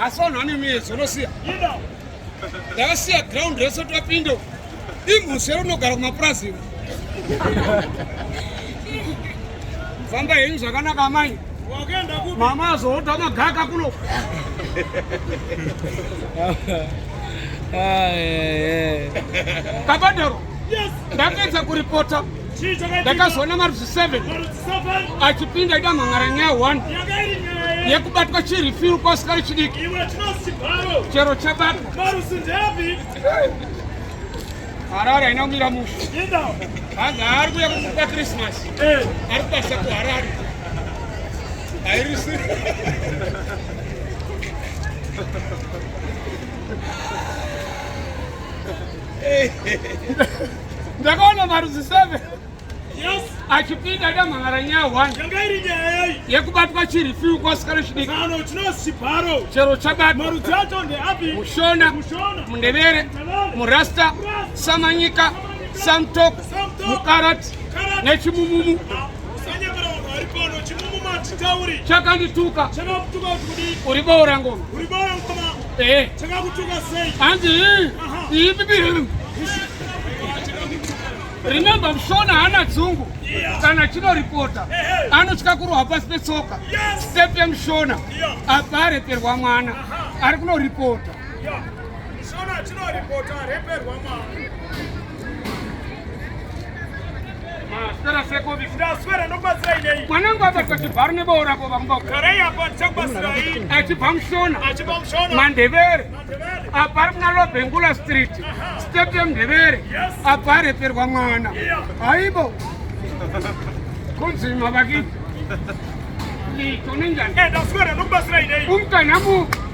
asi vanhu vane miedzo unosiya ndakasiya ground rese topinda imhuswe unogara kumapurazi iwe famba henyu zvakanaka amai mama azoota magaka kuno kabadero ndapedza kuripota ndakazoona marudzi 7 achipinda ida mhan'ara nyaya 1 yekubatwa chirifiri kwasikari chidiki chero chabatwa harare haina kumira musha hanga ari kuya kukupa krismasi eh. ari kubasa kuharare hairisi Hey. ndakaona marudzi 7 yes achipinda damhangara nyaya 1 yanga iri nyaya yei yekubatwa chirifiu kwasikana chidiki ano chino chibharo chero chabatwa marudzi acho ndeapi mushona mushona mundevere murasta samanyika samtok mukarat nechimumumu ah, chakandituka chakakutuka kuti uri boora ngoma uri boora ngoma Eh. Chakakutuka sei? Hanzi hii. Hii. Remember Mshona hana dzungu kana chino reporter anotya kurohwa pasi petsoka step yemshona apa areperwa mwana ari kuno reporter Shona chino reporter areperwa mwana mwanangu abatwa chibharo nebawo rako vamubaachibva mushona mandevere apa ari kuna lobengula street state yemndevere apa areperwa mwana haibo kunzi mavakii tonenjani umtanhamu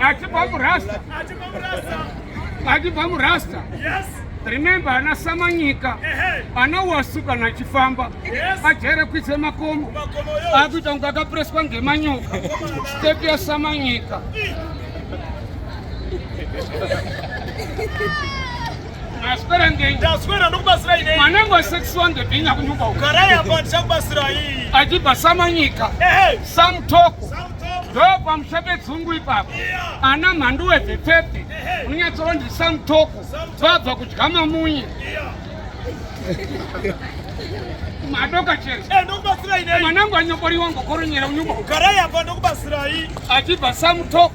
Achibva murasta. Achibva murasta. Achibva murasta. Yes. Remember ana Samanyika. Ana wasu kana achifamba. Yes. Ajere kuitse makomo. Makomo yo. Akuita kunga akapreswa ngemanyoka. Step ya Samanyika. Maswera ngei? Ndaswera ndokubatsira inei. Mwanangu wa sex one the binya kunyumba uko. Garai apa ndichakubatsira iyi. Achipa samanyika. Ehe. Sam toko. Sam ndopa mushape dzungu ipapo ana mhandu wevhepfepfe unonyatsowa ndiri samutoko vabva kudya mamunye madoka chero eh, mwanangu anyoboriwa ngokoronyera unyuba achibva samutoko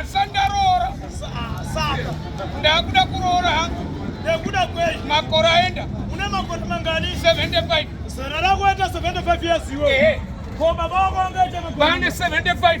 asandaroora saka ndakuda kuroora hangu ndakuda kwei makore aenda une makore mangani 75 zana rakuita 75 years iwe ko baba wako angaita makore 75